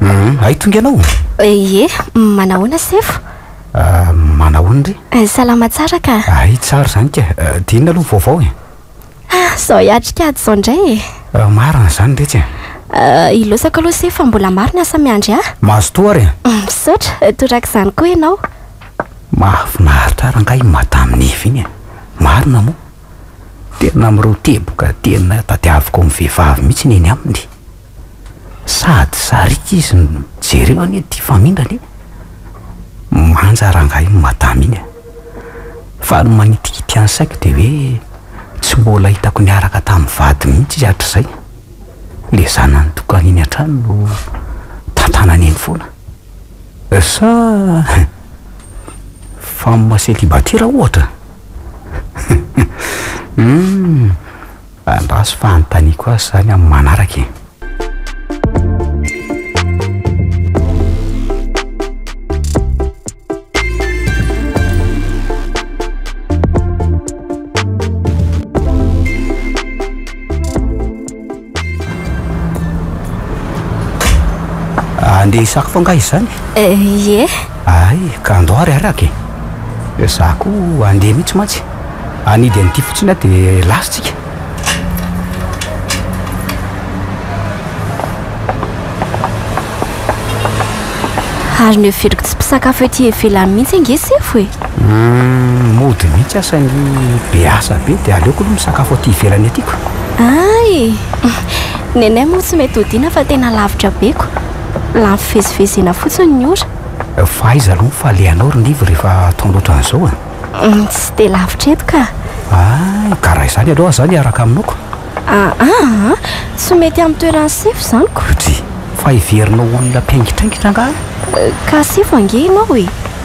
Hum, hay tonga ianao? Ie, manahoana sefo? Ah, manahoana re? Eh, salama tsara ka. Hay tsara izany ka, eh, dia inona aloha ny vaovao e? Ah, izao hiatrika ady izao indray e. Eh, marina izany retsy e. Ah, ilosako aloha sefo fa mbola maro ny asa miandry ahy. Mazotoa ary e. Mm, misaotra, eh, toraka izany koa ianao. Mahafinaritra rangahy i Madame Neva iny e. Marina moa. Tena miroa teboka tena tadiaviko ny vehivavy mihitsy ny eny aminy. Sady sariaka izy no jereo anie ity famindrana e! Manja rangahy iny madama iny a! Fa ny manitikitika ny saiko dia hoe tsy mbola hitako niaraka tamin'ny vadiny mihitsy izy hatrizay. Ilay zanany tokana eny an-trano no tantanany eny foana. Sa femme célibataire ohatra? Humm, andraso fa hanontaniako azy izany amin'ny manaraka e. Andeha hisako foana angaha izany e? Eh, ie. Ay, ka andao ary araka e. Dia za koa andeha mihitsy mantsy. Anidy an'ity fotsiny aho dia lasa tsika. Ary ny heveriko tsy mpisakafo ety ivelany mihitsy ange sefo e. Humm mody mihitsy asa ny be asa be dia aleoko aloha misakafo aty ivelany aty ko. Ay! Nenay moa tsy mety hodiana fa tena lavitra be ko. Lany fivezivezena fotsiny ny ora. Fa aiza aloha ny falehanao ry Nivo rehefa ataonao ohatran'izao a? Humm tsy dia lavitra eto ka. Ay ka raha izany aleoa za miaraka aminao ko. Aa aa tsy mety amin'ny toeran'i sefo izany ko. Dry! Fa heverinao olona mpiaingitraingitra angaha? Ka sefo ange ianao e!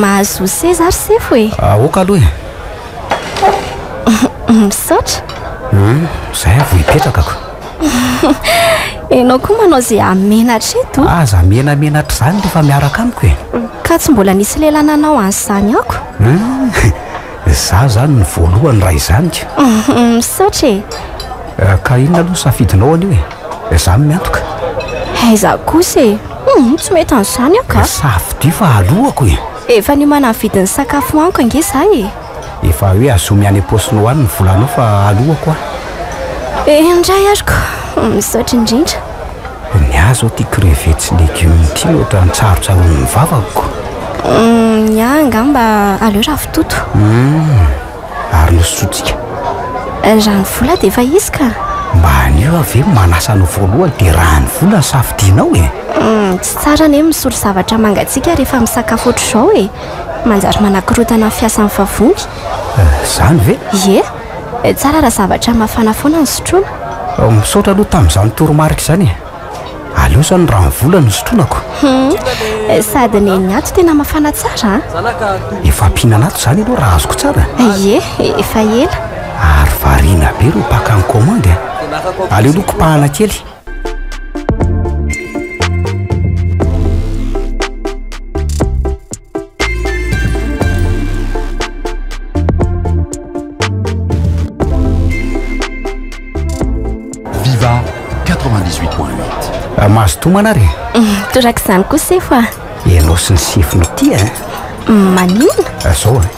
Mahazo seza ary sefo e. Aoka aloha e. Misaotra. Hmm, zay avo hipetraka ko. Enao koa manao ze amenatra eto. Aza menamenatra izany rehefa miaraka amiko e. Ka tsy mbola nisy lehilahy nanao an'izany ako. Hmm, za zany ny voalohany raha izany ka. Misaotra e. Eh, ka inona aloha safidinao anio e? Za no miantoka. Hay za kosa e! Humm tsy mety an'izany aho ka! Safidy fa aloako e! Efa niomana ny vidin'ny sakafo haniko ange za e! Efa hoe azomy any am-paosinao any ny volanao fa aloako aho! Eh indray ary ko! Misaotra indrindra! Ny ahy zao ity crevettes sy légumes ity no ohatran'ny tsarotsaroan'ny vavako ko! Ny ahy angamba aleo ravitoto! Humm ary hosotsika. Raha ny vola dia efa izy ka! Mba anio aho ve manasa anao voalohany dia raha ny vola no safidianao e! Tsy tsara anie ny misolo zavatra mangatsiaka rehefa misakafo ohatr'izao e! Manjary manakorontana ny fiasan'ny vavony. Izany ve? Ie! Tsara raha zavatra mafana foana no sotroina. Misaotra aloha tamin'izany toromarika izany e! Aleo izao ny rano vola no sotronako. Hum, sady ny ny ato tena mafana tsara an. Ah. Efa ampihinana ato izany ianao raha azoko tsara. Ie, efa ela. Ary variana be ireo mpaka ny commande a. Ah. Aleo aloha kopahana kely. Viva 98.8 Mahazo tomana ary mm, Torak'izany koa sefo ah Ianao sy ny sefo no tia eh? mm, Manina Azao eh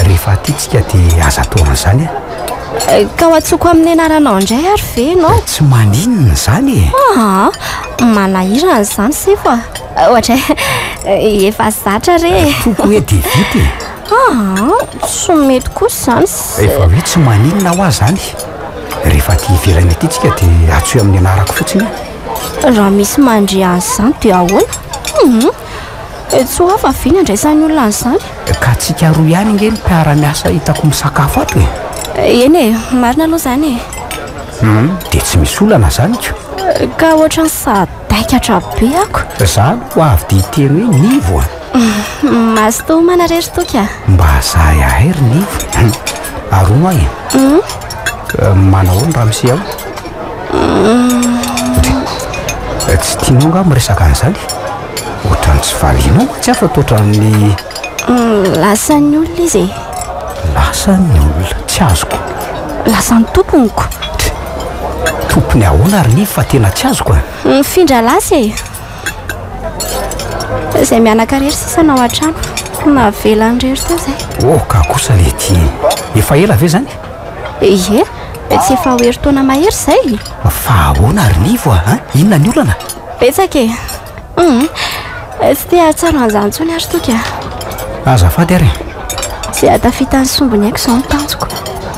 Rehefa tia tsika de aza atao an'izany a! Ka ho antsoko amin'ny anaranao indray ary ve ianao? Tsy maninona izany e! Aa! Manahirana izany sefo a! Ohatra hoe efa zatra re e! Toko hoe de vita e! Aa! Tsy mety kosa izany se! Rehefa hoe tsy maninona hoa izany, rehefa aty ivelany aty tsika de antsoy amin'ny anarako fotsiny a! Raha misy mandre an'izany de ahoana? Dia tsy ho hafa ve ny andraisan'ny olona an'izany? Ka tsika roa ihany ange ny mpiara-miasa hitako misakafo ato e! Eny e, marina aloha izany e! Hum, dia tsy misy olana izany ko! Ka ohatran'ny sadaikatra be ako! Za aloha avy dia hiteny hoe Nivo a! Mazotoa homana re ry Toky a! Mba azahy ahay ry Nivo! Arono ahy e! Hum? Ka manahoana ramose ao? Dia tsy tianao angaha miresaka an'izany? Ohatran'ny tsy valianao mantsy aho fa toa ohatran'ny... Lasan'ny olona izy e. Lasan'ny olona? Tsy azoko. Lasan'ny tompony ko. Tompony ahoana ary Nivo fa tena tsy azoko a? Mifindra lasa e. Izay mianaka irery sisa no ao an-trano. Navelan'irery teo izay. Oh, ka kosa le ty. Efa ela ve izany? Ie. Dia tsy efa ho herintaona mahery izay? Fa ahoana ry Nivo a? An? Inona ny olana? Betsaka e. Hum. Tsy te hahatsaro an'izany intsony ary Toky a. Azafady ary e. Tsy hahatafita ny sombiny aiko izao ny tanjoko.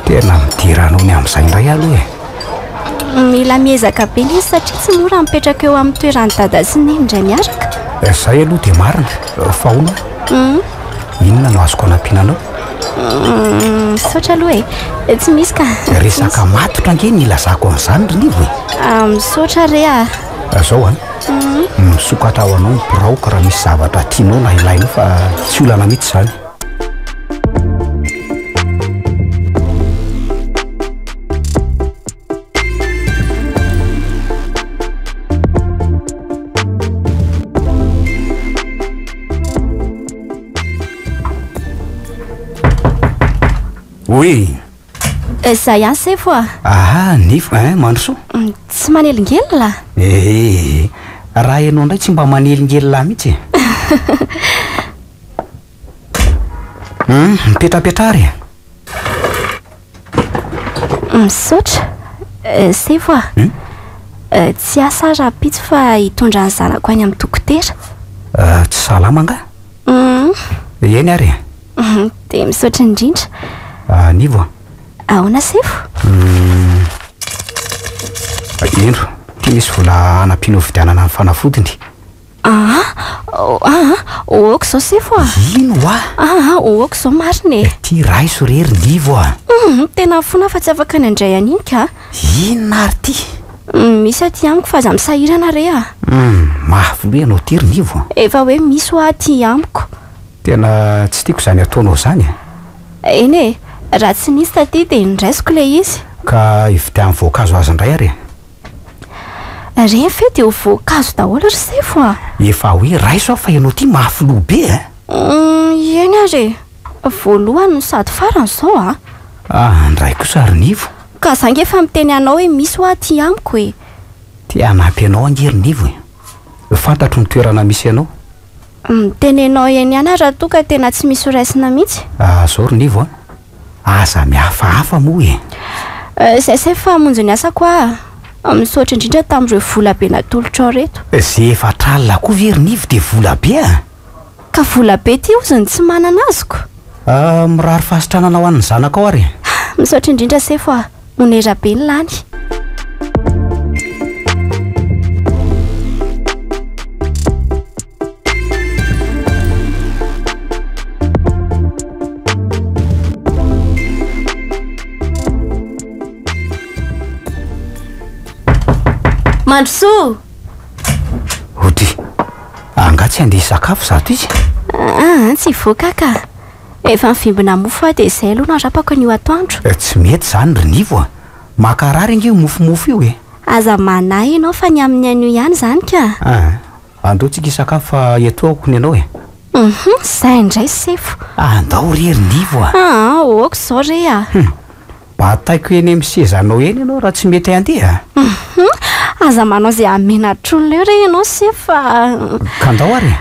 Tena midera anao ny amin'izay indray aloha e. Mila miezaka be ilay izy satria tsy mora ny mipetraka eo amin'ny toeran'i Dada sy Neny indray miaraka. Izay aloha dia marina. Fa hono a? Inona no azoko anampiana anao? Misaotra aloha e. Tsy misy ka. Resaka matotra ange ny ilazako an'izany ry Nivo e. Misaotra re a. Azao a. Misokatra ho anao ny biraoko raha misy zavatra tianao na ilainao fa tsy olana mihitsy izany. Oui. Euh, ça y est, c'est fois. Ah, nif, hein, Manso. Mm, tsy manelingelina? Eh, raha ianao ndray tsy mba manelingelina mihitsy. Hum, mipetrapetra ary e. Misaotra. Euh, c'est voir. Hum? Euh, tsy asa rahampitso fa hitondra ny zanako any amin'ny dokotera. Euh, tsy salama angaha? Hum, Eny ary e. hum, dia misaotra indrindra. Ah, Nivo a. Ahoana sefo? Hum, Indro, ity misy vola hanampiana hovidianana ny fanafodiny. Aa oh aa oh ok zao sefo a. Ino hoa? Aa oh ok zao marina e. Ity raiso re ry livo a. Humm tena mifona fa tsy afaka ny handray an'iny ka. Inona ary ity? Humm misy aty amiko fa aza misahirana re a. Humm mafy loha ianao ity ry nivo a. Efa hoe misy hoa aty amiko. Tena tsy tiako izany ataonao izany a. Eny e, raha tsy nisy taty dia noraisiko ilay izy. Ka hividiano voankazo azy indray ary e. Re ve dia ho voankazo daholo ry sefo a! Efa hoe raiso aho fa ianao ity mahafiloha be a! Uhm, eny ary e! Voalohany no sady farany izao a! Ah, ndray kosa ry Nivo! Ka za nge efa miteny anao hoe misy hoa aty amiko e! Te hanampy anao ange ry Nivo e! Fantatro ny toerana misy anao, Umm tenenao eny ihany raha toa ka tena tsy misy ho raisina mihitsy. Ah zao ry Nivo an! Aza mihafahafa moa e! Euh zay zay fa hamonjy ny asako aa! Misaotra indrindra tamin'ireo vola be natolotrao reto. Ze efatra alina koa ve ry Nivo dia vola be an! Ka vola be ty ozy ny tsy manana azoko? Ah mirary fahasitranana ho an'ny zanakao ary e! Misaotra indrindra sefo aa! Onera be ny lany. Mandrosoa! Ody, angaha tsy handeha hisakafo zato izy? Ah, tsy hivoaka ka. Efa mivimbina mofo aho dia izay aloha no arapako anio atoandro. Tsy mety izany ry Nivo a! Mankarary ange io mofomofo io e! Aza manahy ianao fa ny amin'ny anio ihany izany ka! Aa! Andao tsika hisakafo fa eto aoko ny anao e! Hum! Izay indray sefo! Andao re ry Nivo a! Aa! Ohoka izao re a! Hum! Bataiko eny amin'ny sezanao eny ianao raha tsy mety handeha a! Hum! Aza manao izay hamena hatr'olona eo re ianao sefo fa! Ka andao ary e!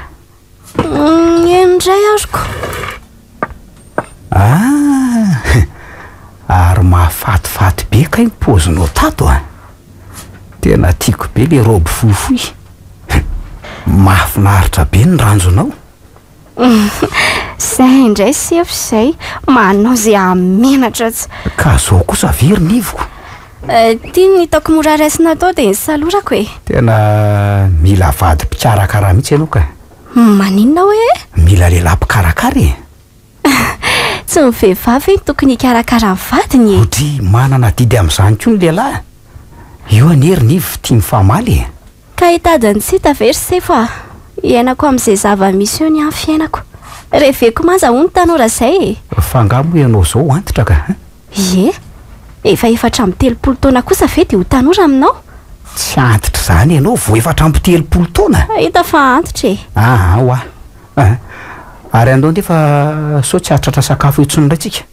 Mm, eny indray aroko. Ah, ary mahafatifaty be kay ny paozinao tato a. Tena tiako be le robe fohifohy. Mahafinaritra be ny ranjonao. Zay indray sefo izay, manao izay hahamenatra atsy. Ka zao kosa ve ry nivoko? Ity no hitako mora raisina atao dia ny salorako e! Tena mila vady mpikarakara mihitsy ianao ka! Maninona hoe e? Mila lehilahy mpikarakara e! Tsy ny vehivavy ve no tokony hikarakara ny vadiny e? Odry manana adidy amin'izany koa ny lehilahy! Io anie ry Nivo tia mifamaly e! Ka hitady ny tsy hita ve ry Sefo a! Iainako amin'izay zava-misy eo ny ahy ny fiainako! Reveko manja hono tanora izay e! Fa angaha moa ianao izao antitra ka! Ie? Efa efatra amby telopolo taona kosa ve dia ho tanora aminao? Tsy antitra izany ianao vao efatra amby telopolo taona? Hita fa antitra e! Aa hoa! Aa! Ary andao andeha fa sao tsy hahatratra sakafo eo intsony indray tsika.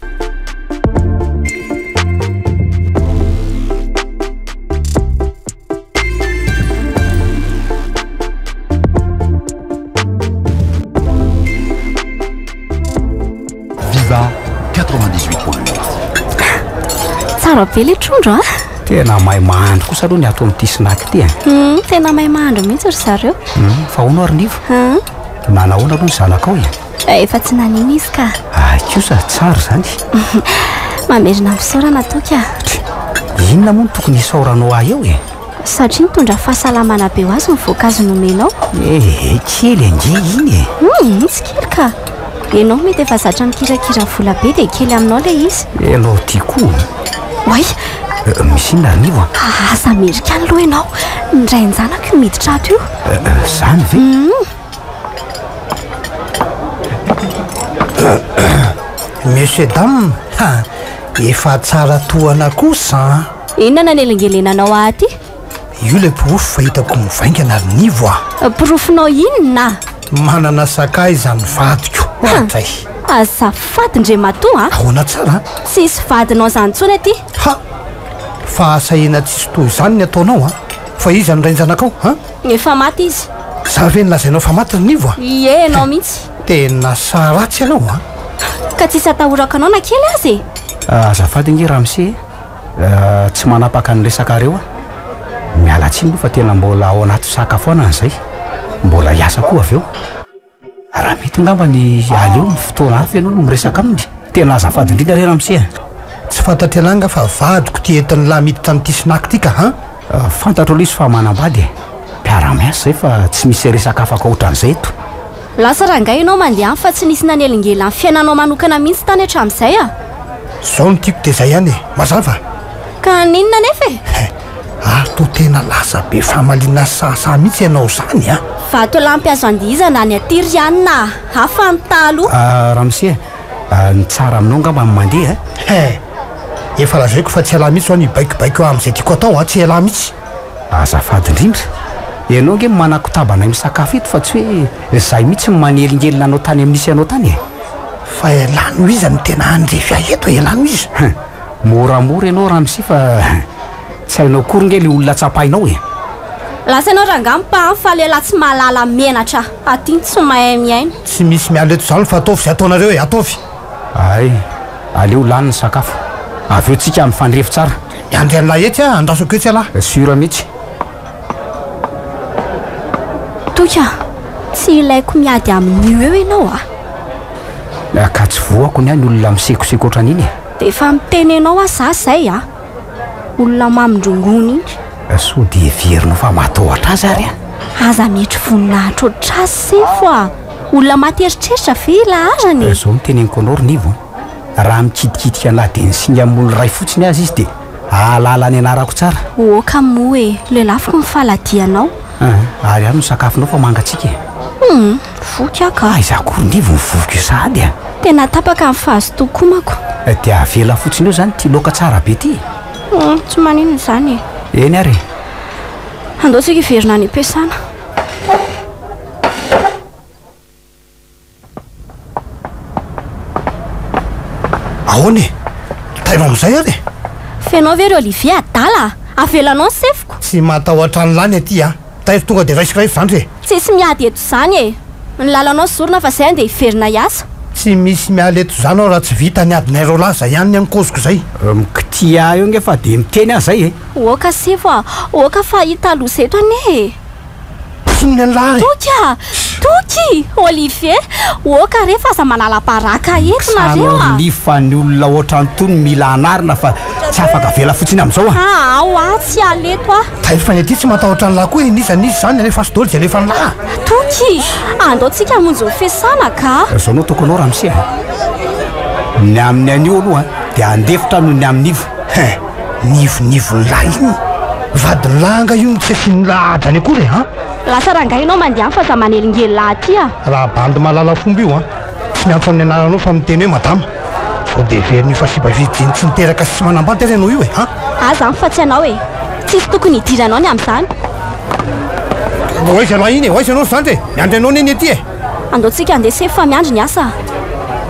Viva 98 point 8. Tsara be le trondro ah. Tena may mahandro kosa aloha ny ato amin'ity snack ity eh. Hmm, tena may mahandro mihitsy ry zareo. Hmm, fa hono ary nivo. Hmm. Nanahoana aloha ny zanakao e? Ka efa tsy nanino izy ka. Ay kosa, tsara izany. Mamerina misaorana toky a. Try, inona moa no tokony hisaoranao ahy eo e? Satria nitondra fahasalamana be ho azy ny voankazo nomenao. Ehe, kely ange iny e. Hum, tsy kely ka. Ianao mety efa zatra mikirakira vola be dia kely aminao ilay izy. Ianao ity koa. Oay! Misy inona ry Nivo a? Aza amerikana aloha ianao. Ny rain-janako io miditra ato io. Izany ve? Hum. Monsieur dame ha! efa tsara tohana kosa an! Inona nanelingelenanao ahy aty? Io ilay porofo fa hitako mivaingana ry Nivo a! Porofonao inona? Manana sakaiza ny vadiko hatray? Azafady Ndriamatoa a! Ahoana tsara an? Tsisy vadinao izany intsony aty! Ha! Fahasahiana tsisy toa izany ny ataonao a! Fa iza no rain-janakao an? Efa maty izy. Za ve no lazainao fa maty ry Nivo a? Ie enao mihitsy. Tena sahy ratsy ianao a! Ka tsisy atahorako anao na kely aza e! Azafady ange Ramse e, tsy manapaka ny resakareo aho. Miala tsiny moa fa tena mbola ao anaty fisakafoanana izay. Mbola hiasa koa avy eo. Raha mety angamba ny aleo amin'ny fotoana hafa ianao no miresaka aminy. Tena azafady indrindra re ramose a! Tsy fantatry anah nga fa vadiko ty entin'i lahy miditra amin'ity snack ty ka an! Fantatro aloha izy fa manambady e! Mpiara miasa izay fa tsy misy resaka afaka ohatran'izay eto. Lasa rangahy ianao mandeha any fa tsy nisy nanelingelan'ny fiainanao manokana mihitsy tany hatramin'izay a! Zao no tiako dia izay ihany e! Mazava? Ka n'inona anefa e? He, ary toa tena lasa be famaliana sy sahasaha mihitsy ianao izany an! Vatolampy azo andihizana any aty ry an a! Hafa ny taloha! Ah, ramose a! Ah, ny tsara aminao angamba ny mandeha an! He, efa lazaiko fa tsy ialahy mihitsy izao ny hibaikobaiko amin'izay tiako atao an! Tsy ialahy mihitsy! Azafady indrindra! Ianao ange no manakotaba anay misakafo eto fa tsy hoe izahay mihitsy no manelingelina anao tany amin'ny nisy anao tany e! Fa ialahy noho iza no tena handrefy ahy eto e? Ialahy noho iza? He! Moramora ianao ramsi fa tsy hainao akory nge le olona tsapainao e! Lasa ianao rangah mpa an fa lehilahy tsy mahalala menatra aty tsy mahay miaina. Tsy misy miala eto izany fa ataovy izay ataonareo e! Ataovy! Hay! Aleo lany ny sakafo. Avy eo tsika mifandrefy tsara. Dia andeha an'lah etsy a! Andrasako etsy alah! Sur mitsy! Toika! Tsy hilaiko miady amin'io eo ianao a! Ka tsy voako ny ahy ny olona misekoseko ohatran'iny e! Dia efa miteny anao aho za zay a! Olona mamindrongony iny. Sao dia heverinao fa matahotra azy ary an? Aza mietry voninahitra ohatr'azy sefo a! Olona maty eritreritra ve i laharana e? Izao no teneniko anao ry Nivo an! Raha mikitikitika na dia ny singa moly iray fotsiny aza izy dia hahalala ny anarako tsara. Oka moa e! Lelafiko ny faladianao. An! Ary ahy no sakafonao fa mangatsiaka e! Hum! Voky aho ka aiza akory nge vao voky io sahady a! Tena tapaka ny fahazotoako omako. Dia avela fotsiny eo izany ity laoka tsara be ity e! Humm, tsy maninona izany e! Eny ary e! Andao isika hiverina any am-piasana. Ahoana e! Tairo amin'izay ary e! F'enao ve ry Olivier adala a! Avelanao ny sefoko! Tsy matahotra an'ilany aty a! Tairo tonga dia raisiko raha efa zandry e! Tsisy miady eto zany e! Ny lalanao zorina fa zay ande hiverina hiasa. Tsy misy miala eto zany aho raha tsy vita ny adinay roa lahy zay ihany ny any koziko zay. Mkitia eo nge fa dia miteny aho zay e! Oka sefo a! Oka fa hita loza eto anie e! Mpihinana ny lahy! Toky a! Toky! Olivier! Oka re fa aza manala baraka eto nareo a! San'orly fa ny olona otran'tony mila anarina fa tsy afaka avela fotsiny amzao a! Aa oa tsy hiala eto aho. Taille fine ity tsy matahotra an'lah koa e n'iza n'iza izany alefa sy doly dia alefa an'lah. Toky! Andao tsika hamonjy ny fiasana ka! Zao no tokony ho ramose a! Ny amin'ny anio aloha dia handefitra aho noho ny amin'ny ivo. Hein! Ny ivon'ivon'lah iny? Vadin'lah anga io no tsy asian'lah ady any akory e! An! Lasa rangahy ianao mandeha any fa za manelingelin'lah aty a! Raha bandy mahalala fomba io an! Tsy miampy amin'ny anaranao fa miteny hoe madama. Vao dia heverin'io fa fibavidian'ny tsy niteraka sy tsy manambady ary ianao io e! Ha? Ahy izany fa tsy ianao e! Tsisy tokony hidiranao ny amin'izany. Ho aiza ialahy iny e? Ho aiza ianao ry zandry e? Miandry anao anie ny ety e! Andao tsika handeha sefo fa miandry ny asa a!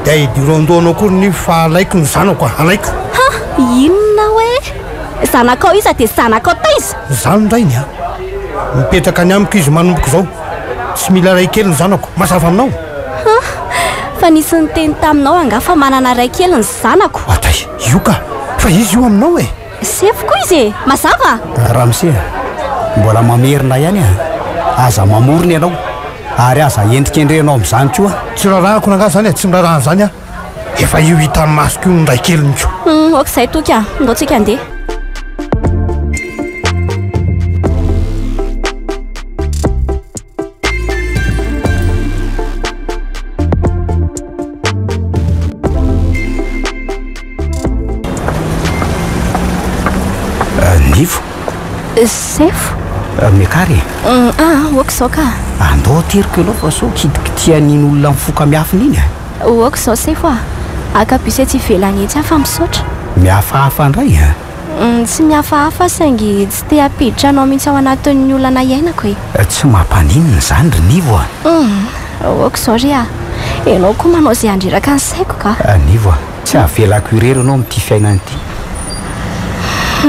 Dia hidirao an-dohanao koa ry nivo fa alaiko ny zanako a! Alaiko! Ha! Inona hoe? Zanakao iza dia zanakao taiza? Izaho ny rainy a! Mipetraka any amiko izy manomboka izao. Tsy mila ray kely ny zanako. Mazava aminao? Ha! Fa nisy niteny taminao angaha fa manana ray kely ny zanako? Atay! Io ka! Fa izy io aminao e! Sefo koa izy e! Mazava? Ramose a! Mbola mamerina ihany a! Aza mamorona ianao ary aza endrikendrehinao amin'izany koa! Tsy rarahako rangaha izany e! Tsy miraraha an'izany aho! Efa io hitan'ny masoko io ny ray keliny ko! Humm! Ok izay toky a! Ndao tsika handeha! sefo miakara e mm, aa ah, oka izao ka andao teriko ianao fa sao kitikitian'iny olona mifoka miafina iny a ah. oka izao sefo a akabise tsy ivelany etsy aho fa misaotra mihafahafa indray a Tsy mihafahafa saingy tsy te hampiditra anao mihitsy ao anatin'ny olana iainako e. Tsy mampaninona izany ry Nivo a! Humm! Aoka izao re a! Ianao koa manao izay handreraka ny saiko ka! Nivo a! Tsy havelako irery ianao amin'ity fiainana ity!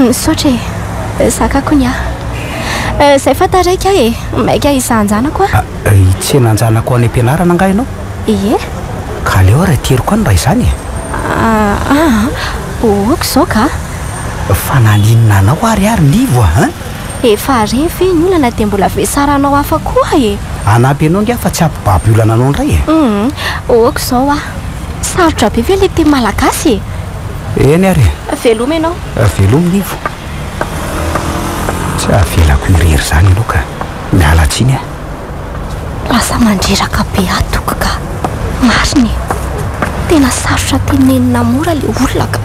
Misaotra e! Zakako ny ahy! Izay fa taraiky aho e! Maika hisahan-janako aho! Hitsenan-janako any am-pianarana angaha ianao? Ie! Ka aleo ary ateriko any raha izany e! Aa! Oh ok zao ka a! Fa naninona anao ary ary Livo a hein? Efa re ve ny olana dia mbola vesara anao hafa koa e! Hanampy anao ngiahy fa tsy hampibaby olana anao indray e! Hum ok zao a! Sarotra be ve le teny malagasy e! Eny ary e! Veloma ianao! Veloma Livo! Tsy avelako irery izany ianao ka! Miala tsiny a! Lasa mandreraka be aho toky ka! Marina e! Tena sarotra tenenina mora le olona ka!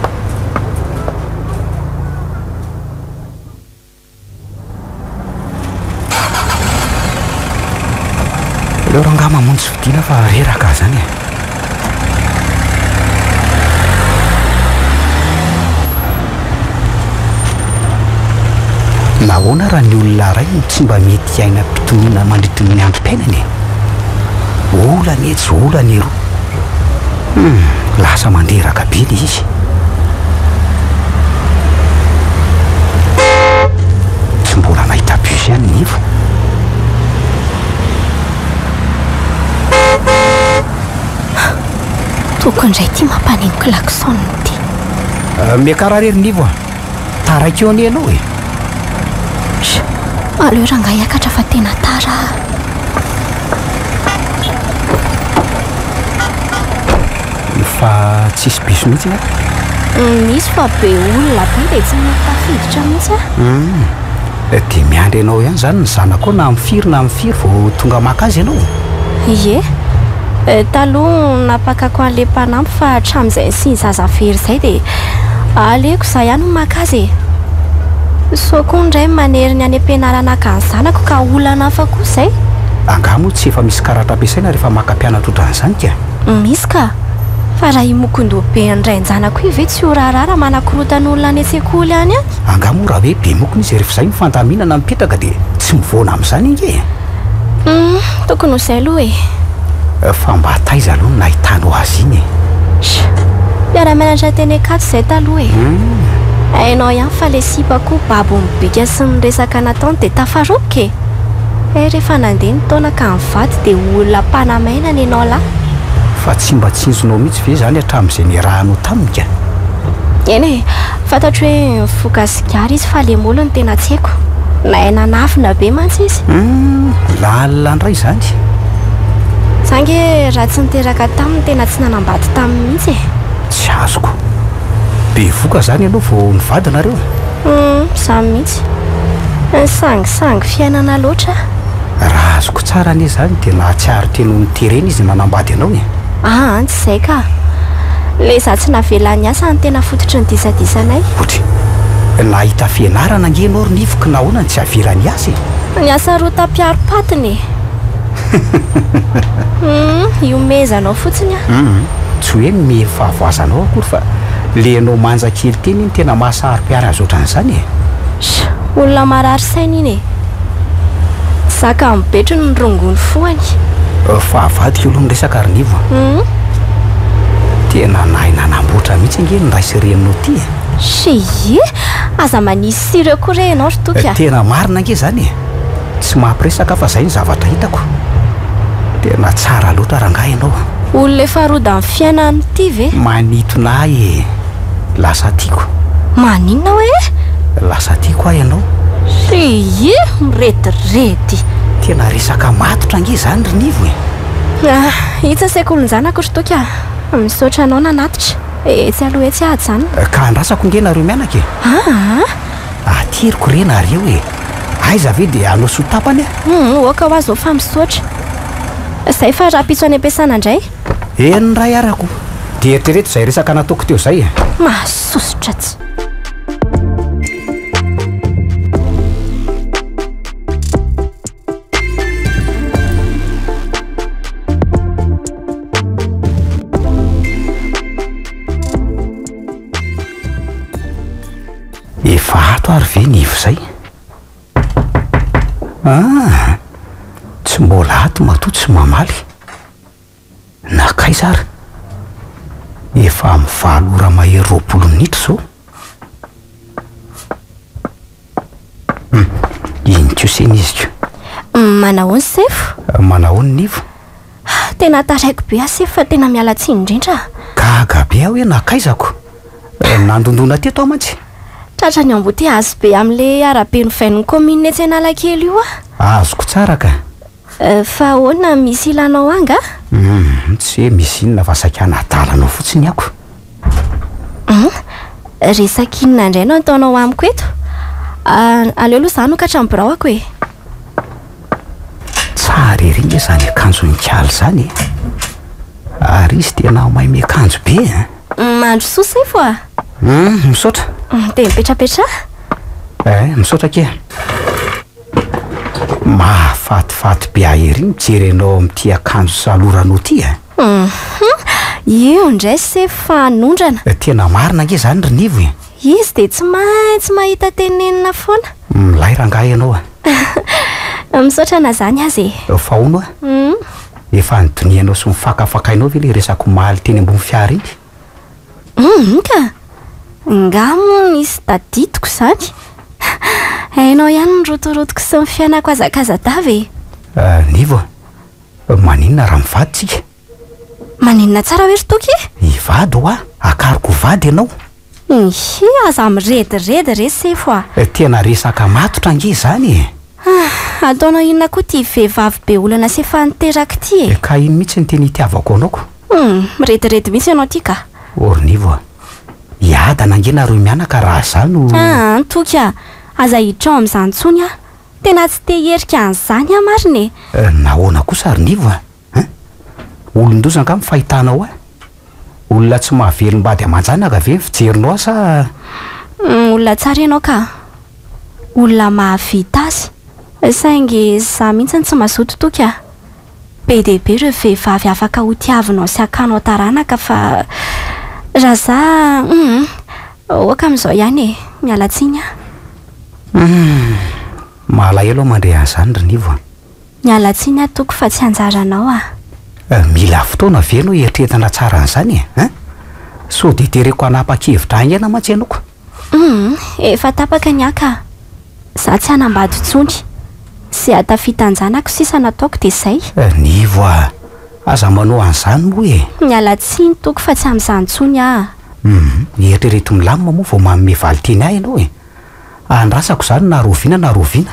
Aleo rangahy mamonjy fodiana fa reraka aho zany e! Nahoana raha ny olona iray no tsy mba mety hiaina am-pitoniana mandritry ny androm-piainany e? Olana etsy, olana eroa. Hum, lasa mandreraka be ilay izy. Tsy mbola nahita bus ihany nefa. Toko indray ity mampaneno klaxon ity. Euh, miakarary ery nivo a. Taraiky eo anie ianao e. Sh, aleo rangahy hiakatra fa tena tara ah. Fa tsisy bus mihitsy ny ato. Misy fa be olona be dia tsy mety tafiditra mihitsy ah. Hmm. Dia miandry anao ihany izany ny zanakao na amin'ny firy na amin'ny firy vao tonga maka azy ianao e? Ie. Taloha napakako an'ilay mpanampy fa hatramin'izay nisian'ny zaza very izay dia aleoko izaho ihany no maka azy e! Soa koa ny ray manery ny any am-pianarana haka ny zanako ka olana hafa koa izay! Angaha moa tsy efa misy karatra ampiasaina rehefa maka mpianatra ohatran'izany ka? Misy ka! Fa raha imokondoha be ny rain-janako io ve tsy ho raharaha raha manakorontan'olona any an-tsekoly any an? Angaha moa raha hoe be mokona izy ary f'izay ny fandaminana mipetraka dia tsy mivoana amin'izany ange e! Humm, tokony ho izay aloha e! Fa mba taiza aloha no nahitanao azy iny e? Sha! Mpiara-mianatra teny Ankatso izay taloha e! Humm! Hainao ihany fa ilay sipa koa babo ny bika sy ny resaka nataony dia tafaroboka e! Hay rehefa nandeha ny taona ka nivady dia ho olona mpanamaina ny anao lahy! Fa tsy mba tsinjonao mihitsy ve izany hatramin'izay niarahanao taminy ka? Eny e! Fantatro hoe mifoka sigara izy fa le moly no tena tsy haiko. Nahay nanafina be mantsy izy. Humm, lalina ndray izany. Za nge raha tsy niteraka taminy tena tsy nanambady taminy mihitsy e. Tsy azoko. Bevoka zany ianao vao nivady nareo? Humm, za mihitsy. Nisangisangy fiainana loatra ah. Raha azoko tsara anie zany dia nahatsiaro teny ho niterena izy ny nanambady anao e. Aa tsy izay ka! Ilay izaho tsy navela niasa no tena fototry ny disadisanay. Otry! Nahita fianarana ange ianao ry Nivo ka nahoana no tsy avela niasa e? Niasa rota mpiaro patiny e! Humm ihomehezanao fotsiny an! Humm tsy hoe ny miely fahavoazanao akory fa ilay ianao manja kely teny iny tena maha saro-piara azy ohatran'izany e! Sh! Olona marary saina iny e! Zaka amin'ny betrony ny rongony foany. Fa avadika aloha ny resaka ry Nivo a! Hum. Tena nahay nanamboatra mihitsy ange ny ray sy reninao ty e! Shii! Aza manisy sira eo koa re ianao ry Toky a! Tena marina ange izany e! Tsy mampiresaka aho fa izay no zavatra hitako. Tena tsara loatra rangahy ianao. Olona efa rodan'ny fiainany ity ve? Manitona ahy e! Lasa tiako. Maninona hoe? Lasa tiako aho ianao. Ry mirediredy. Tena resaka matotra ange izany ry Nivo e. Ah, hitsa saiko olon-janako ry Toky a. Misaotra anao nanatitra. Etsy aloha etsy aho ajanona. Ka andrasako ange nareo mianaka e. Ah! Ateriko re nareo e. Aiza ve dia hanao soa tapany a? Hum, oka ho azy ô fa misaotra. Izay fa rahampitso any am-piasana indray. Eny ny ray arako. Dia eritrereto izay resaka nataoko teo izay e. Mahasosotra tsy. Efa ato ary ve ny ivo izay? Ah! Tsy mbola ato matoa tsy mamaly. Nakaiza ary? Efa amin'ny valo ora mahery roapolo minitra izao. Hum, iny koa se ny iziko. Manahoana Sefo? Manahoana ny Ivo? Tena taraiko be aho Sefo fa tena miala tsiny indrindra. Gaga be aho hoe nakaizako. Eh, nandondona teto aho mantsy. Tratra ny embouteillage be amin'ilay arabe novain'ny commune etsy Analakely io aho. Azoko tsara ka. Fa ahoana, misy ilanao angah? Humm, tsy hoe misy inona fa saika hanadala anao fotsiny aho. Humm, resaka inona indray no ataonao amiko eto? Ah, aleo aloha izaho hanokatra ny biraoko e! Tsara ery nge izany akanjo nikala izany e! Ary izy tena mahay miakanjo be eh! Mandro soa Sefo ah! Humm, misaotra! Dia mipetrapetraha! Eh, misaotra akia! Mahafatifaty be ahy ery mijery anao amin'ity akanjo saloranao ity a! Hum! Io indray se fanondrana! Tena marina ange izany ry Nivo e! Izy dia tsy maintsy mahita tenenina foana! Milay rangahy ianao a! Misaotra na izany aza e! Fa hono a! Efa nidonianao sy nofakafakainao ve ilay resak'omaly teny ambony fiara iny? Hum ka! Ngah moa nisy tadidiko izany? Hainao ihany ny rotorotoko sy ny fiainako hazakazadava e! Nivo a! Maninona raha mivady tsika? Maninona tsara hoe ry Toky e? Hivady hoa! Hakariko ho vady ianao! Ihi, aza mirediredy re Sefo a! Tena resaka matotra ange izany e! Ataonao inona koa ity vehivavy be olana sy efa niteraka ity e! Ka iny mihitsy ny teny itiavako anao ko! Humm, mirediredy mihitsy ianao ity ka. Ornivo a! Hiadana ange nareo mianaka raha za no. Aa toky a! Aza hitrao amin'izany intsony aho. Tena tsy te hierika an'izany aho marina e! Euh nahoana kosa ry Nivo a! Hein? Olon-doza angaha ny fahitanao ahy? Olona tsy mahavelom-bady aman-janaka ve ny fijerinao ahy sa. Humm olona tsara ianao ka! Olona mahavita azy. Saingy za mihitsy no tsy mazoto toky a! Be dia be ireo vehivavy afaka ho tiavinao sy hakanao taranaka fa raha za hum ok amin'izao ihany e! Miala tsiny an! Hum malahelo aho mandre an'izany ry Nivo a! Miala tsiny an tompoko fa tsy anjaranao a! Mila fotoana ve no hiatretina tsara an'izany e! An! Sao dia tereko hanapa-kevitra haingana mantsy ianao ka! Humm efa tapaka ny ahy ka! Za tsy hanambady tsony! Ze hatafita an-janako sisa nataoko de zay! Nivo a! Aza manao an'izany moa e! Miala tsiny toky fa tsy amin'izany tsony aho! Humm eritrereto milamina moa vao manome valin-teny ahy ianao e! Andrasako izany na rahoviana na rahoviana!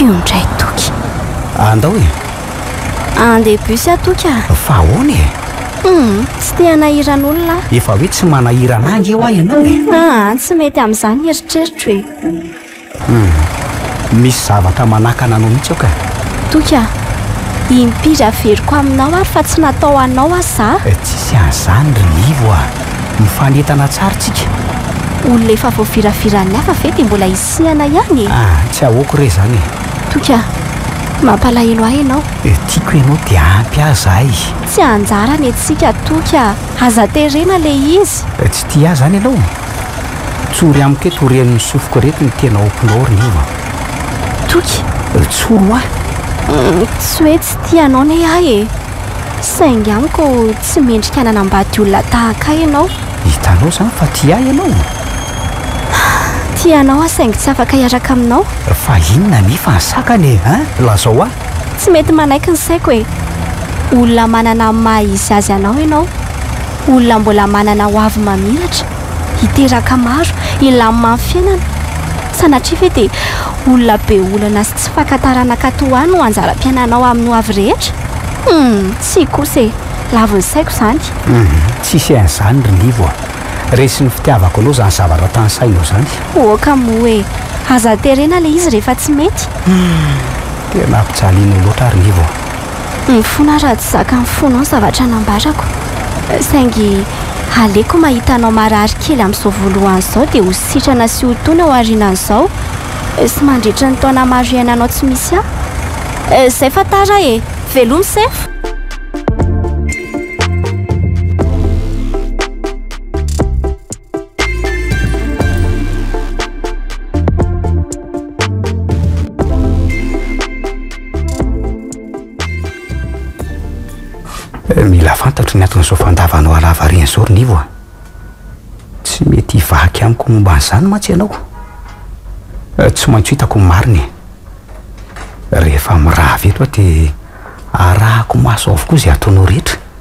Io ndray toky. Andao e. Andeha bus aho toky ah. Fa ahoana e? Hmm, tsy te hanahiran'olona aho. Efa hoe tsy manahirana ange hoa ianao e. Ah, tsy mety amin'izany eritreritro e. Humm. Misy zavatra manakana anao mihitsy aho ka. Toky a! Impiry averiko aminao ary fa tsy natao anao aho za? Eh, tsisy an'izany ry Ivo a! Mifanentana tsara tsika. Olona efa voaviraviran'ny hafa ve dia mbola isihana ihany e? Ah, tsy ahoako re izany e! Toky a! Mampalahelo ahy ianao. Eh, tiako ianao dia ampy ahy zahay. Tsy anjara ny antsika Toky a! Aza terena ilay izy. Eh, tsy tia ahy izany ianao? Tsory amiko eto oren'ny sofiko reto ny tena ompinao ry Ivo a! Toky! Tsory ho ahy! Tsy hoe tsy tia anao ne aho e! Saingy amiko tsy mendrika hananam-bady olona tahaka ahy ianao. Hitanao izany fa tia ahy ianao? Tia anao aho saingy tsy afaka hiaraka aminao. Fa inona anefa ny sakana e? Hein? Lazao ahy! Tsy mety manaiky ny saiko e! Olona manana ny maha izy azy anao ianao. Olona mbola manana ho avy mamiratra, hiteraka maro, hilamina amin'ny fiainana. Sanatria ve dia olona be olana sy tsy faka taranaka toa ahy no anjaram-piainanao amin'ny ho avy rehetra? Humm! Tsia kosa e! Lavon'ny saiko izany. Humm! Tsisy an'izany ry Livo a! Resin'ny fitiavako anao izany zavatra tanisainao izany. Oka moa e! Aza terena ilay izy rehefa tsy mety. Humm! Tena ampijalianao loatra aho ry Livo a! Mifona raha tsy zakan'ny fonao ny zavatra nambarako. Saingy aleoko mahita anao marary kely amin'izao voalohany izao dia ho sitrana sy ho tony ao aorianan'izao sy mandritra ny taona maro iainanao tsy misy ahy. Izay fa tara e! Veloma sefo! Mila fantatro ny anton'izao fandavanao halahavariana izao ry Nivo a! Tsy mety hivaky amiko momba an'izany mantsy ianao. Tsy maintsy ho hitako ny marina e! Rehefa mirava eto aho dia arahako maso avokoa izay ataonao rehetra.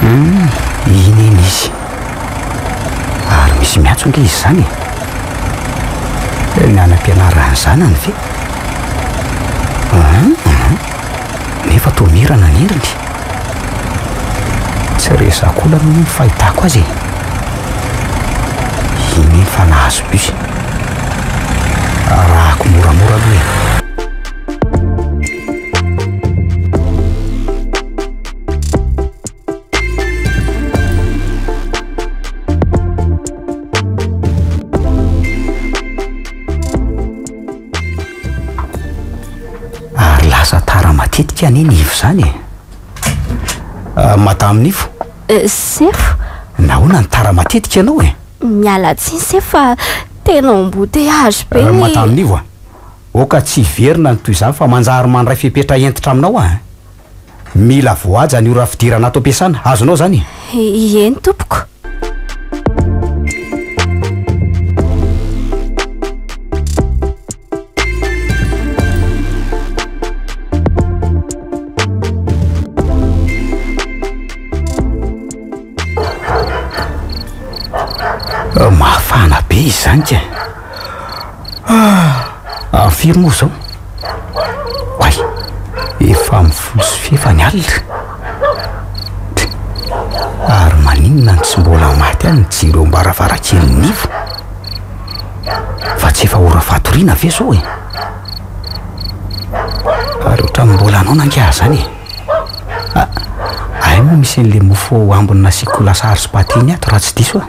Hmm, iny iny izy. Ary misy miantso ange izy izany e. Ny anam-pianarana zanany ve? Hmm, hmm. Nefa toa mirana ny heriny. Tsy resako olana ny fahitako azy e. Iny efa nahazo bus. Arahako moramora aloha e. tika anie ny ivo zany e ah, madame nivo eh, sefo nahoana ny tara matetika ianao e miala tsiny sefo fa tena ombote azo be eh, madame nivo a Oka tsy hiverina ny toy izany fa manjary mandray fepetra hentitra aminao aho eh! Mila voahaja ny ora fidirana ato am-piasana, azonao izany e? Ieny tompoko. Mafana be izany kay! Ah! Any firy moa izao? Oay! Efa amin'ny folo sy fefa ny alina. Tch! Ary maninona no tsy mbola maty any ny jiro eo am-baravarankelin'ny Nivo? Fa tsy efa ora fatoriana ve izao e? Ary ohatran'ny mbola anao nangiahy izany e! Ah! Ay moa misy an'ilay mofo ao ambiny nasiako lasary sy pate iny ato raha tsy diso aho.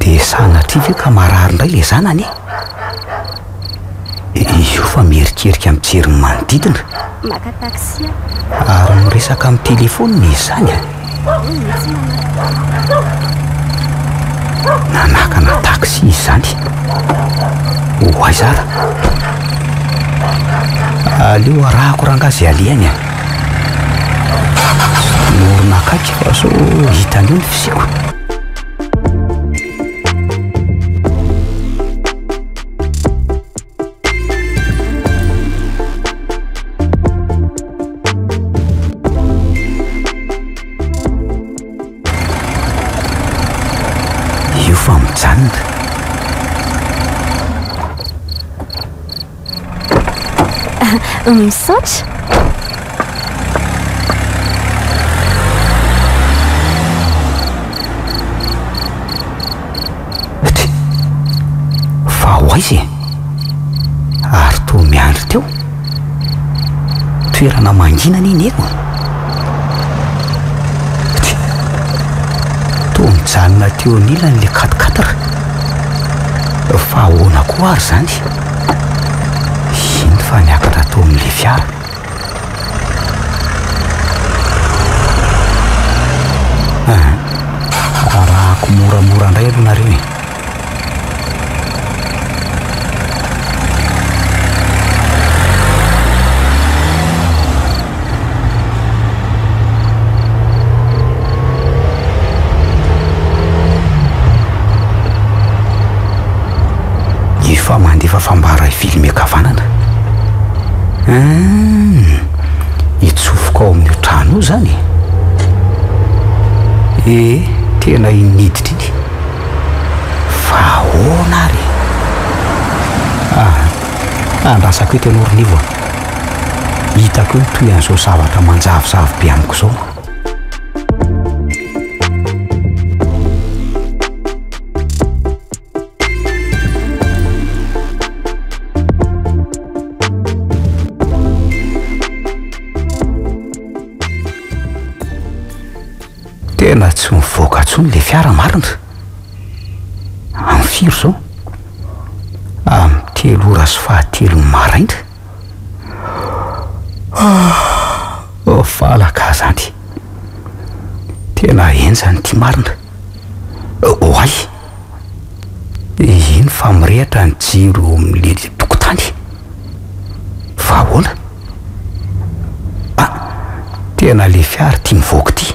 De sanatria ve ka marary indray le zanany e? Io fa miherikerika mijery ny manodidina. Maka taxi aho. Ary miresaka amin'ny telefaonina izy izany a! Nanakana taxi izy izany. Ho aiza ara? Aleo arahako rangahy izay alehany a! Morona akaiky fa sao hita an'io ny fisiako. Io fa mijanona. Misaotra. izy ary toa miandry teo toerana mangina ny eny eko toa mijanona teo anilany le katkatra fa ahoana koa ary zany Hino fa niakatra tao amin'ilay fiara. Aha, rarahako moramora indray aloha nareo e. Efa mandefa fambara hivily ankavanana. Hum, hitsofoka ao amin'io trano io zany. E, tena iny niditra iny. Fa ahoana ary? Ah, andrasako eto ianao Rinivo. hitako eo toy an'izao zavatra manjavozavo be amiko izao. Tena tsy mivoaka intsony le fiara marina. Amin'ny firy izao? Amin'ny telo ora sy fahatelon'ny maraina. Valaka aza any. Tena henjana ity marina. Oay. Eny fa mirehitra ny jiro eo amin'ilay tokotany. Fa ahoana? Ah, tena ilay fiara ity mivoaka ity.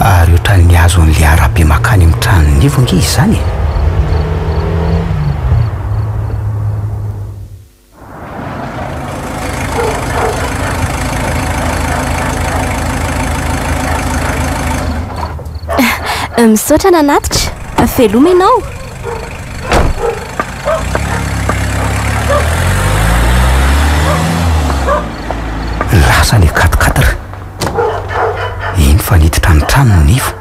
ary ohatran'ny azo an'le arabe makany amin'ny tranon'ny ivo ange izany e. Misaotra nanatitra. Veloma ianao. Lasa le katikatira. Iny fa niditra ny trano ny nivo.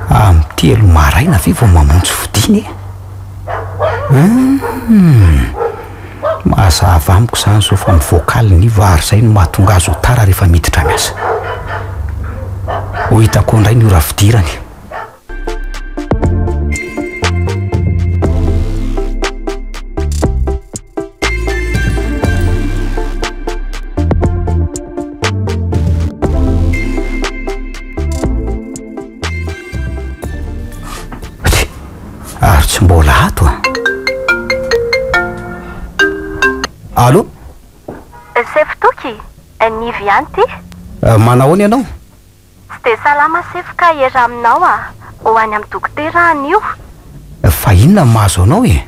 Amin'ny telo maraina ve vao mamonjy fodiana e? Mazava amiko izany zao fa ny vocal ny vary izay no mahatonga azy ho tara rehefa miditra miasa. Ho hita koa indray ny ora fidirany. Ary tsy mbola ato an. Allo? Sefo Toky? Nivy ihany ty. Manao ahoana ianao? Tsy dia salama Sefo ka hiera aminao aho. Ho any amin'ny dokotera aho anio. Fa inona no mahazo anao e?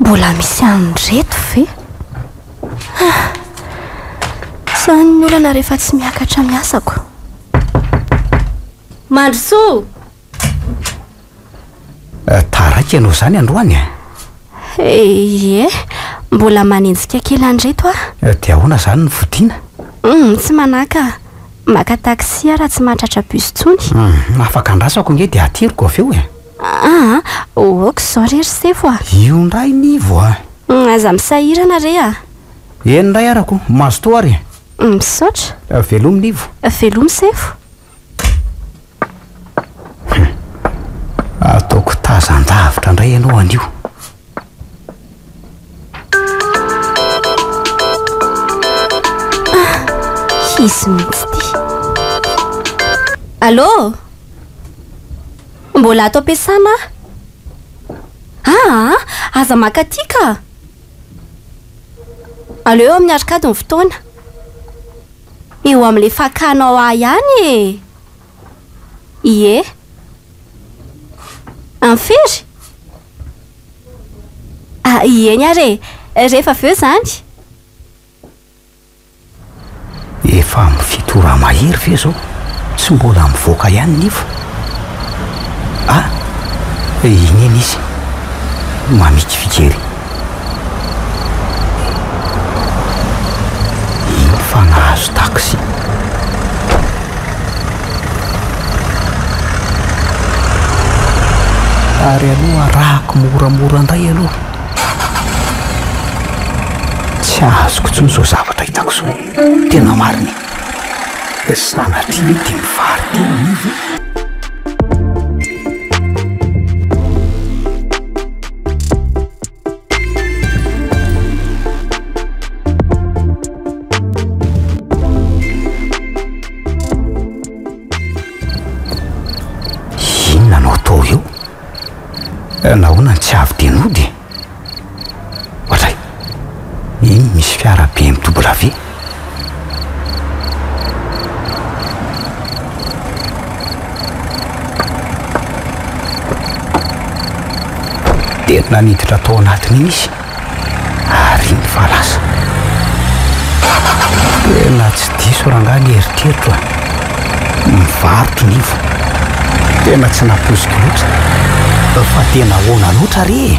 Mbola misy an'ireto ve? Ah! Sa ny olana rehefa tsy miakatra ny asako? Mandrosoa! Eh, taraiky ianao izany androany eh? Ie, mbola manenjika kely an'ireto ah. Eh, dia ahoana izany ny fodiana? Hum, tsy manaka. Maka taxi aho raha tsy mahatratra bus intsony. Hum, afaka andrasako ange dia ateriko avy eo eh. Aa ok zao re ry sefo a. Io ndray Nivo a. Aza misahirana re a. Eny ndray arako o. Mazotoa ary e. Misaotra. Velomy Nivo. Velomy sefo. Ataoko tazan-davitra ndray ianao anio. hisy mihitsy ity allô mbola ato am-piasana aho aa ah, aza makaty ka aleo eo amin'ny arkady ny fotoana eo amin'ilay fakanao ahy ihany e ie anfery Ah, ieny ary e! Rehefa avy eo izany? Efa amin'ny fito ora mahery ve izao? Tsy mbola mivoaka ihany ny nify? Ah, iny iny izy, mamikiviky ery. Iny fa nahazo taxi. ary aloha arahako moramora indray aloha tsy azoko intsony izao zavatra hitako izao tena marina e dia sanatria ve dia mivarotena anio ve Inona no atao eo? Eh, nahoana ny tsy avy dia nody? Ohatray, iny misy fiara BMW. Dia naniditra tao anatin'iny izy ary nifa lasa. Tena tsy diso rangahy ny eritreritro a. Mivarotro ny info. Tena tsy napoiziko loatra. Fa tena ahoana loatra re e?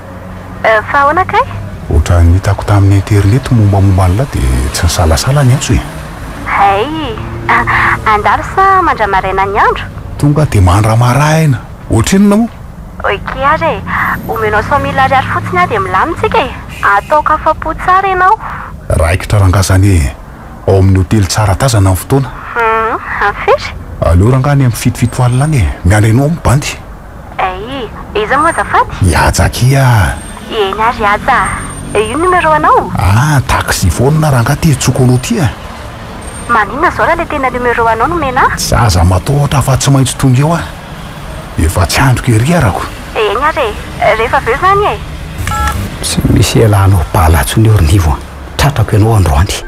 Euh fa ahoana kay? Ohatran'ny hitako tamin'ny internet mombamomba an'ilay dia tsy nisalasala ny antso e! Hay! Handalo sa mandramaraina ny andro? Tonga dia mandramaraina! Ohatrinona moa? Ok ary e! Omenao cent mille ariary fotsiny aho dia milamina isika e! Ataoko afa-po tsara ianao! Raikitra rangahy izany e! Ao amin'ny hotely tsara tazana ny fotoana! Hum! Very! Aleo rangahy ny amin'ny fitofito alina any e! Miandry anao amin'ny bandy! Eh iza moa azafady? I Haja akia ah! Eny ary i Haja ah! Eh io numéro anao? Ah taxi foana rangah ty antsoiko anao ty ah! Maninona zao raha le tena numéro anao no omena ah! Za aza matahotra fa tsy maintsy tonga eo ah! Efa tsy andriko ery arako! Eny ary e! Rehefa avy eo zany e! Tsy misy hialanao bala intsony eo ry Nivo a! Tratrako ianao androany!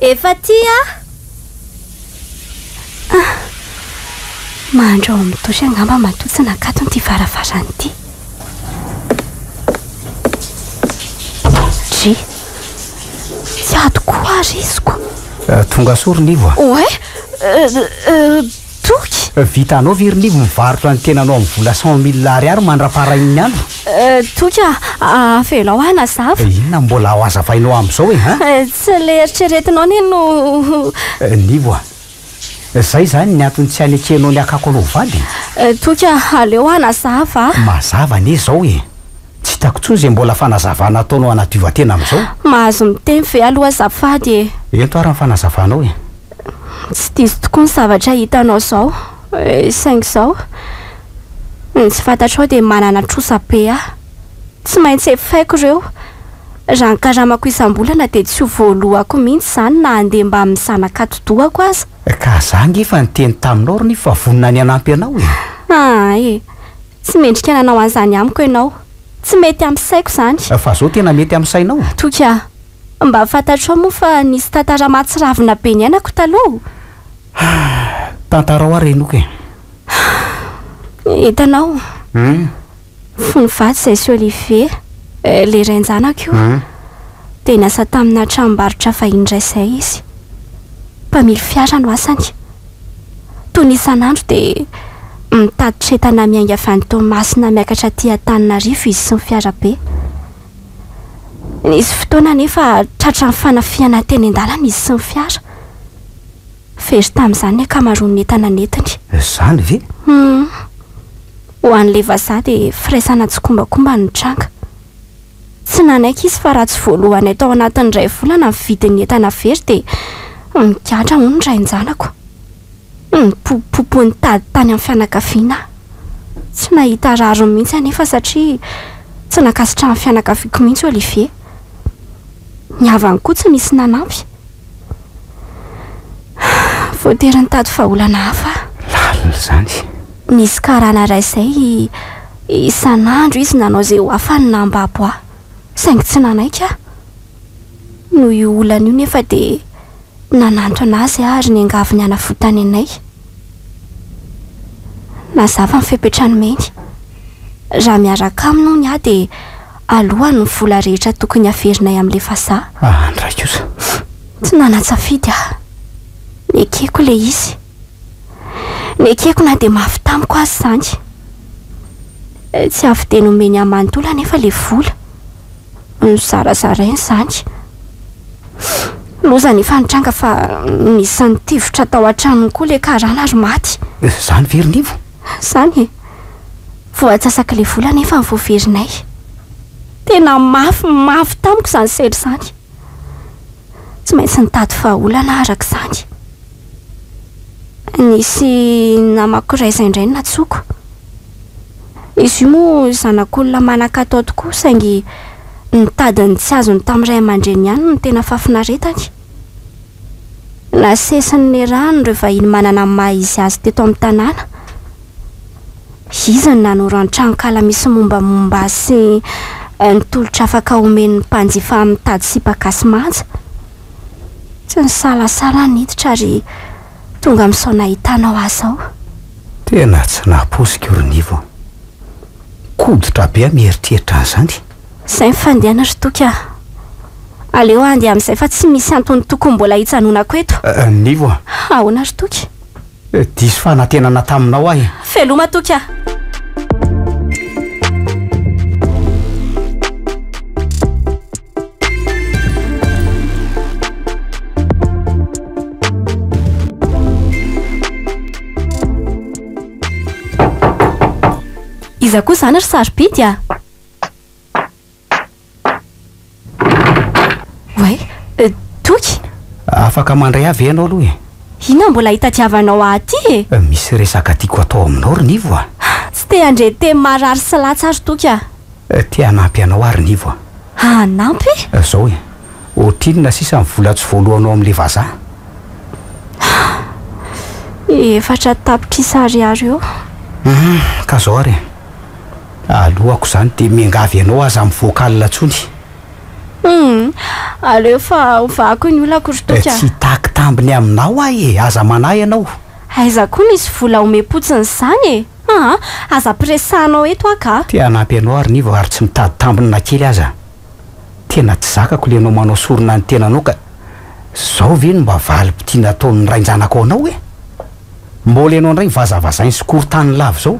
Efa tia ah. Ah. Mahandro ao amin'ny douche angamba matoa tsy nakatony ity varavarana ity. Dry. Tsy ady koa risiko. Euh, tonga soa ry Nivo a. Ouais. Euh, euh, Toky! Vitanao ve ry Liv mivarotra ny tenanao amin'ny vola cent mille ariary mandrapaharain'ny andro? Toky a! Avelao aho hanazava. Inona no mbola ho hazavainao amin'izao e ha? Tsy ilay eritreretinao anie no. Liv a! Izay izany ny antony tsy hanekenao ny hakako anao ho vadiny? Toky a! Aleo hanazava a! Mazava anie izao e! Tsy hitako tsony izay mbola fanazavana ataonao hanadiova-tena amin'izao. Mahazo miteny ve aloha azafady e? Ento ary ny fanazavanao e. Tsy diso tokoa ny zavatra hitanao izao e, saingy izao, ny tsy fantatrao dia manana trosa be aho. Tsy maintsy efaiko ireo. Raha ny karamako isam-bolana dia tsy ho voalohako mihitsy izany na handeha mbamin'ny zanaka atidohako aza. Ka za ange efa niteny taminao ry Nivo fa vonona ny hanampy anao e. Aa e! Tsy mendrika nanao an'izany amiko ianao. Tsy mety amin'ny saiko izany. Fa zao tena mety amin'ny sainao? Toky a! Mba fantatrao moa fa nisy tantara mahatsiravina be niainako taloha o! Tantarao ary henoiko e! Hitanao? Fony faty izay sy Olivier, ilay rain-janako io, dia niasa tamina tranombarotra vahiny iray izay izy. Mpamily fiara no asany. Toy ny isan'andro dia mitatitra entana miainga avy any Toamasina miakatra aty Antananarivo izy sy ny fiarabe. Nisy fotoana anefa tratran'ny fanafihana teny an-dalana izy sy ny fiara. Very tamin'izany ny ankamaroan'ny entana nentiny. Izany ve? Humm. Ho an'ilay vazaha dia firaisana tsikombakomba no nitranga. Tsy nanaiky izy fa raha tsy voaloanay tao anatin'ny iray volana ny vidin'ny entana very dia nigadra hono ny rain-janako. Nipopopo nitady tany amin'ny fianakaviana aho. Tsy nahita rariny mihitsy anefa satria tsy nankasitrahan'ny fianakaviako mihitsy Olivier. Ny havany koa tsy nisy nanampy. Voatery nitady vahaolana hafa aho. Lalina izany. Nisy karana iray izay isan'andro izy nanao izay ho afany na ambabo ahy, saingy tsy nanaiky aho. Noho io olana io nefa dia nanantona azy aho ary niangavy ny hanavotany anay. Nazava ny fepetra nomeny. Raha miaraka aminy hono aho dia. alohan ny vola rehetra tokony haverinay amle vazaha. Aa ndray kosa. Tsy nanatsafidy aho. Nekeko le izy. Nekeko na dia mafy tamiko aza izany. Tsy avy dia nomeny ahy manontolo anefa le vola. Nozarazarainy izany. Loza anefa nitranga fa nisy nitifitra tao an-tranony koa le karana ary maty. Zany ve ry nivo? Zany e! Vao atsasaka ilay vola anefa no voaverinay. Tena mafy mafy tamiko izany sary izany. Tsy maintsy nitady vahaolana aho araka izany. Nisy namako iray izay indray no nantsoiko. Izy io moa zanak'olona manan-katao tokoa saingy nitady ny tsy azony tamin'ny ray aman-dreniny ihany no tena fahafinaretany. Nasesiny ny rano ireo vahiny manana ny maha izy azy teto amin'ny tanàna. Izy no nanoro ny tranonkala misy ny mombamomba azy sy ny tolotra afaka homen'ny mpanjifa amin'ny mitady sipa gasy manja. Tsy nisalasala aho niditra ary tonga amin'izao nahitanao ahy izao. Tena tsy nahapoiziko ry Nivo a! Koditra be aho mieritreritra an'izany. Izay ny fandehana ry Toky ah. Aleo handeha amin'izay fa tsy misy antony tokony mbola hijanonako eto. Nivo ah. Ahoana ry Toky? Diso fanantenana taminao aho e. Veloma Toky ah. Iza koa izany ry sarobidy ah? Oay! Toky! Afaka mandray ahy ve ianao aloha e? Inona mbola itadiavanao ahy aty e? Misy resaka tiako atao aminao ry Nivo a! Tsy te handre teny marary sy latsy ary Toky a! Te hanampy anao aho ry Nivo a! Hanampy? Izao e! Ohatrinona sisa ny vola tsy voaloanao amin'ilay vazaha? Efatra tapitrisa ariary eo. Ka izao ary e! Alohako izany dia miangavy anao aza mivoaka alina intsony. Humm! Aleo fa hovahako ny olako ry toky a! Tsy hitaky tambiny aminao aho e! Aza manahy ianao! Aiza koa misy vola homem-potsiny izany e! Aa! Aza ampiresahanao eto aho ka! Te hanampy anao ary nivo ary tsy mitady tambiny na kely aza! Tena tsy zakako ilay ianao manao sorona ny tenanao ka! Izao ve no mba valim-pitia nataon'ny rain-janako anao e! Mbola ianao indray vazavazainy sy korontany lava izao.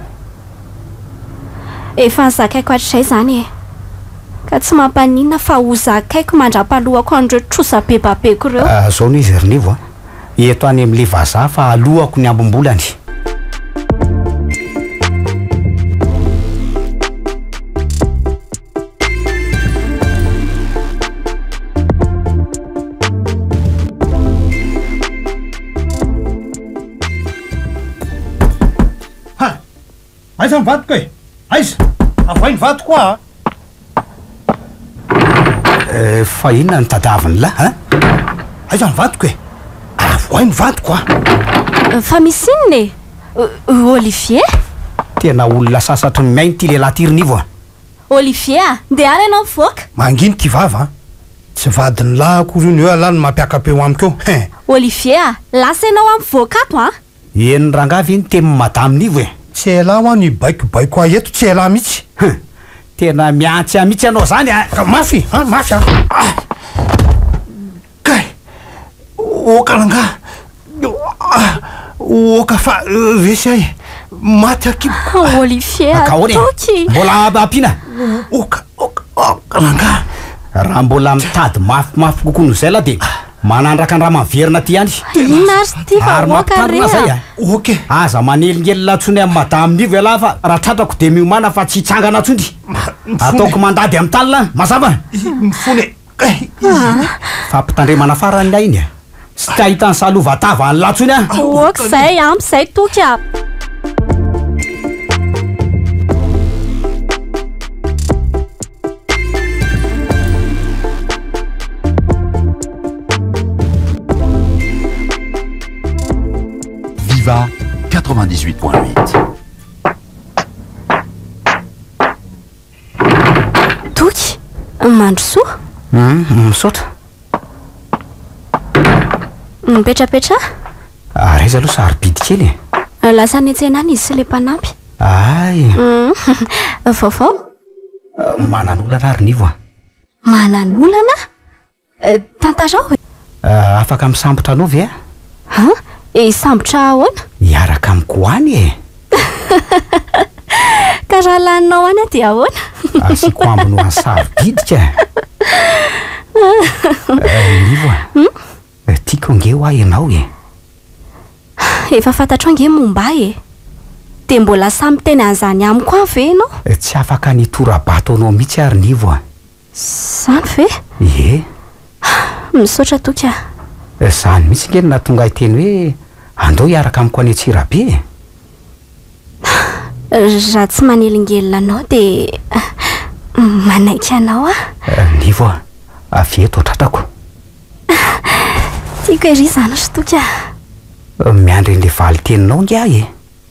Efa nozakaiko hatrizay izany e! Ka tsy mampaninona fa hozakaiko mandrapahalohako an'ireo trosa be babeko ireo. Zao no izy ry Nivo a! Eto any amin'ilay vazaha fa alohako ny ambim-bolany. Aiza ny vatoko e aiza avoay ny vatoko a ah. eh, fa inona ny tadaviny lah a aiza ny vatoko e avoay ny vatoko a ah. fa misy inona e Olivier tena olona sasatry ny miainy ty lehilahy ty rinivo a Olivier a! Ndeha ary ianao mivoaka! Mangina ity vava an! Tsy vadin'ny lahy akory io ny eo lahy no mampiakapa eo amiko eo hein! Olivier a! Lasa ianao an! Mivoaka ato an! Henon'i rangahy ve ny tenin'i madame Nivo e! Tsy elah hoa ny hibaikobaiko ahy eto, tsy elah mihitsy! Hum! Tena mihantsy ahy mihitsy ianao izany a! Ka mafy an! Mafy an! Kay! Oka rangaha! Ohh! Oka fa resy ahy! Maty aky! Ohh! Olivier! Ka ahoana e? Mbola ampiana? Oka! Oka! Oka! Rangaha! Raha mbola mitady mafimafy kokoa noho izay lah dia manandraka andrama miverina aty ihany! Inona ary izy ity fa oka re a! Oka e! Aza manelingelina intsony amin'i Madame Nivo ialahy fa raha tratrako dia miomàna fa tsy hitsangana intsony! Ataoko mandady amin'ny talina an! Mazava? Mifona e! Kay izy io fa mpitandremana farany ny ainy a! Tsy te hahita ny salovan-tava an'i Latsony aho! Ok izay, ampy izay Toky a! Viva 98.8. Toky, mandrosoa. Humm, misaotra. Mipetrapetraha. Ary aiza aloha sarobidy kely e. Lasa any an-tsena any izy sy ilay mpanampy. Hay. Humm, vaovao? Manan-olana ary Nivo a. Manan-olana? Tantarao e! Afaka misambotra anao ve aho? An? Hisambotra ahoana? Hiaraka amiko any e! Ka raha laninao any aho dia ahoana? Asiako ambiny ho an'i Sarobidy ka! Nivo a! Tiako ange ho'a ianao e! Efa fantatrao ange momba ahy e! Dia mbola sahy miteny an'izany amiko any ve ianao? Tsy afaka ny hitora-bato anao mihitsy ary Nivo a! Zany ve? Ie. Misaotra toky a. Zany mihitsy nge no nahatonga ahy teny hoe andao hiaraka amiko any Antsirabe e! Raha tsy manelingelina anao dia manaiky anao aho. Nivo a! Avy eto ho tratrako. Tiako ery izany ry toky a. Miandry an'ilay valin-teninao nge aho e!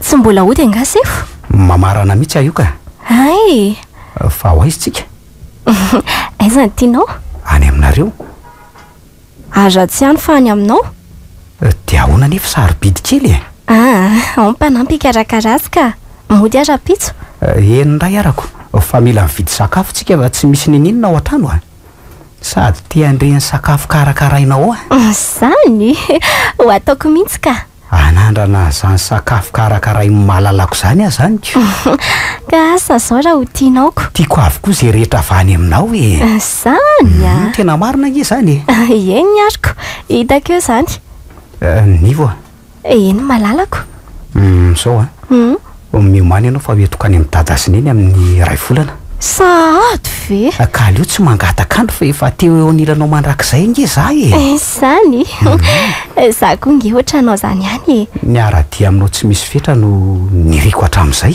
Tsy mbola hody angaha sefo? Mamarana mihitsy aho io ka! Hay! Fa ho aiza isika? Aiza no tianao? Any aminareo. Ary raha tsy any fa any aminao? Dia ahoana anefa sarobidy kely e! Ah! Ao mpanampy hikarakara azy ka! Mody aho rahampitso. Eny indray arako, fa mila mividy sakafo tsika fa tsy misy niniana ao an-trano a! Sady te handre ny sakafo karakarainao ao a! Izany? Ho ataoko mihitsy ka! Anandrana izany sakafo karakarain'i malalako izany aza amiko. Ka asa izao raha ho tianao ko. Tiako avokoa izay rehetra avy any aminao e! Izany a! Tena marina ange izany e! Eny ary ko! Hitako eo izany. Nivo a! Eny malalako. Hum, sao a! Hum. Miomàna ianao fa hoentiko any amin'i Dada sy Neny amin'ny iray volana. Sahady ve? Ka aleo tsy mangataka andro fa efa teo eo anilanao mandrakizay ange za e! Izany? Za koa ange ohatranao zany ihany e! Ny hara-dia aminao tsy misy fetra no niriko hatramin'izay.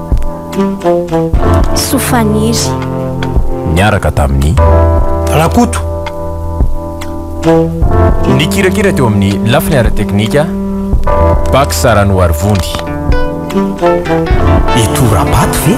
Soa Faniry. Niaraka tamin'i Rakoto. Nikirakira teo amin'ny lafiny ara-teknika Bac Saranoarivony. I Torabato ve?